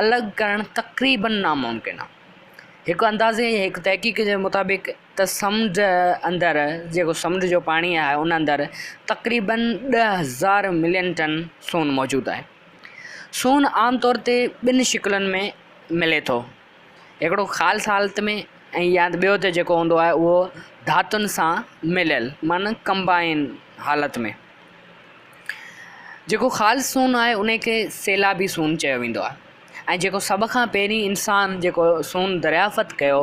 الڳ ڪرڻ تقريباً ناممڪن آ. هڪ اندازي ۽ هڪ تحقيق جي مطابق ته سمنڊ اندر جيڪو سمنڊ جو پاڻي آهي ان اندر تقريباً ڏهه هزار ملين ٽن سون موجود آهي. سون عام طور تي ٻن شڪلن ۾ ملي ٿو هڪڙو خالص حالت ۾ ۽ يا ٻيو ته جيڪو هوندو آهي اهو ڌاتن سان مليل معنيٰ ڪمبائن حالت ۾. جيڪو خالص سون آهي انهي کي سيلابي سون چيو ويندو آهي ۽ جيڪو سڀ کان پهرين انسان جيڪو سون دريافت ڪيو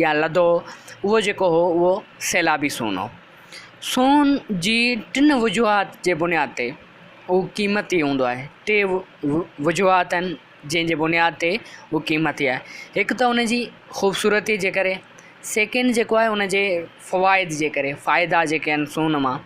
يا لڌو اهو جيڪو هو اهو سيلابي سون هو. سون جي ٽن وجوهات جي بنياد تي اهو قيمتي هوندو آهي ٽي وجوهات آهن جنهن جي بنياد تي اهو قيمتي آهي هڪ ته ان جي خوبصورتي جي ڪري سيڪنڊ جيڪو آهي ان جي فوائد جي ڪري فائدا جيڪي آهن سون مان